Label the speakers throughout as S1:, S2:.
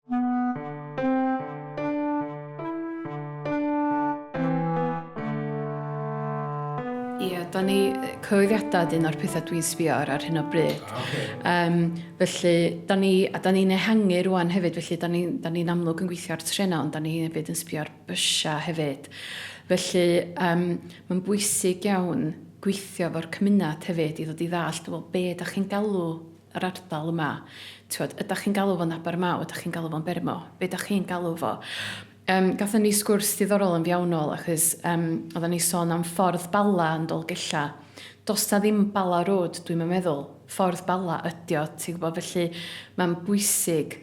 S1: Ie, da ni, cyhoeddiadau ydy un o'r pethau dwi'n sbio ar ar hyn o bryd. Ah, okay. um, felly, da ni, a da ni'n ehangu rwan hefyd, felly da ni'n ni, ni amlwg yn gweithio ar trenau, ond da ni hefyd yn sbio ar bysiau hefyd. Felly, um, mae'n bwysig iawn gweithio fo'r cymuned hefyd i ddod i ddall, wel, be da chi'n galw yr ardal yma, t'wod, ydach chi'n galw fo'n Abermaw, ydach chi'n galw fo'n Bermo, be' 'dach chi'n galw fo? Yym, gathon ni sgwrs diddorol yn fiawnol achos yym oddan ni sôn am Ffordd Bala yn Dolgella. Do's 'na ddim Bala Road dwi'm yn meddwl, Ffordd Bala ydi o, ti'n gwbo, felly ma'n bwysig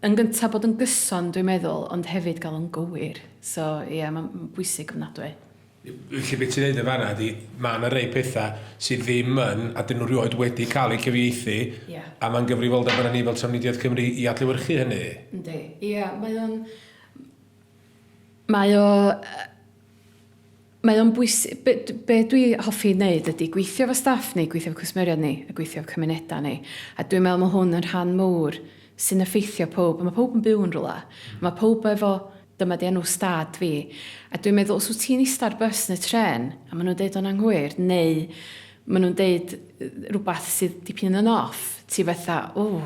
S1: yn gynta' bod yn gyson dwi'n meddwl ond hefyd ga'l o'n gywir. So, ie, ma'n bwysig ofnadwy. Felly be'
S2: ti'n neud yn fanna ydi ma' 'na rei petha sydd ddim yn a 'dyn nhw rioed wedi cael eu cyfieithu... Ie. ...a ma'n gyfrifoldeb arnon ni fel Trafnidiaeth Cymru i adlewyrchu hynny. Yndi. Ie
S1: mae o'n mae o yy mae o'n bwys- be' d- be' dwi hoffi neud ydi gweithio efo staff ni gweithio efo cwsmeriaid ni a gweithio efo cymuneda ni a dwi'n me'wl ma' hwn yn rhan mowr sy'n effeithio powb a ma' powb yn byw yn rwla ma' powb efo Dyma 'di enw stad fi. A dwi'n meddwl, os wyt ti'n ista ar bws neu trên, a maen nhw'n deud o'n anghywir, neu maen nhw'n deud rhywbeth sydd dipyn yn off, ti fatha, ww,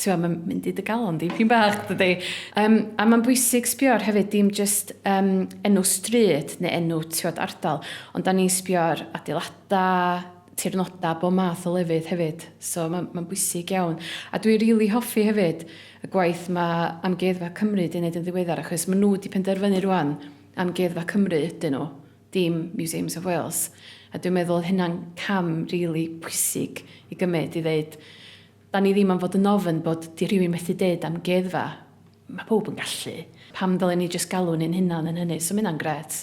S1: ti'n meddwl, mae'n mynd i dy galon di, pyn bach, dydy. Um, a mae'n bwysig sbio ar hefyd, dim just um, enw stryd neu enw, ti'n ardal, ond da ni'n sbio ar adeiladau, tirnodau, bob math o lefydd hefyd, so ma' ma'n bwysig iawn. A dwi rili hoffi hefyd y gwaith ma' Amgueddfa Cymru 'di neud yn ddiweddar achos ma' nhw 'di penderfynu rŵan, Amgueddfa Cymru ydyn nhw, dim Museums of Wales, a dwi'n meddwl oedd hynna'n cam rili pwysig i gymryd i ddeud, 'dan ni ddim am fod yn ofn bod, 'di rhywun methu deud amgueddfa, ma' powb yn gallu, pam ddylen ni jyst galw ni'n hunan yn hynny, so ma' hynna'n grêt.